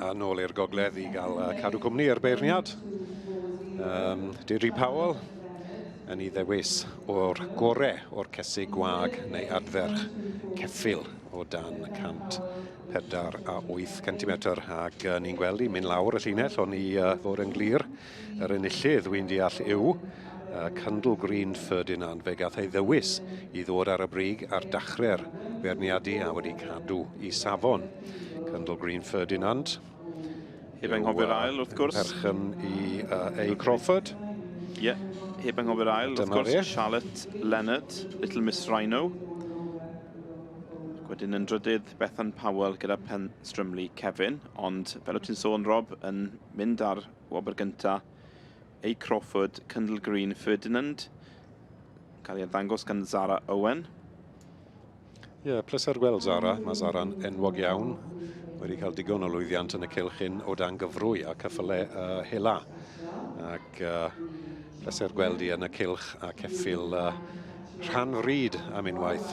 A nôl i'r gogledd i gael uh, cadw cwmni ar beirniad. Um, Deirdre Powell yn ei ddewis o'r gore o'r cesu gwag neu adferch ceffil o dan 100 pedair a wyth centimetr ac uh, ni'n gweld i mynd lawr y llinell o'n i uh, fod yn glir yr enillydd wy'n deall yw uh, Candle Green Ferdinand fe gath ei ddewis i ddod ar y brig ar dachre'r beirniadu a wedi cadw i safon. Candle Green Ferdinand Heb anghofio'r ail, wrth gwrs. Perchen i uh, A. Crawford. Ie, yeah. heb anghofio'r ail, wrth gwrs. Charlotte Leonard, Little Miss Rhino. Wedyn yn drydydd, Bethan Powell gyda Pen Strymlu Kevin. Ond fel o ti'n sôn, Rob, yn mynd ar wobr gyntaf, A. Crawford, Cyndall Green, Ferdinand, yn cael ei ddangos gan Zara Owen. Ie, yeah, pleser gweld Zara. Mae Zara'n enwog iawn. Wedi cael digon o lwyddiant yn y cylch hyn o dan gyfrwy a cyffyle uh, hela. Ac uh, pleser gweld i yn y cylch a ceffil uh, rhan fryd am unwaith.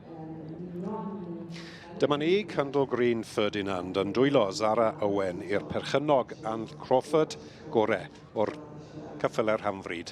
Dyma ni, Candle Green Ferdinand yn dwylo Zara Owen i'r perchennog Ann Crawford gore o'r cyffele'r hamfryd.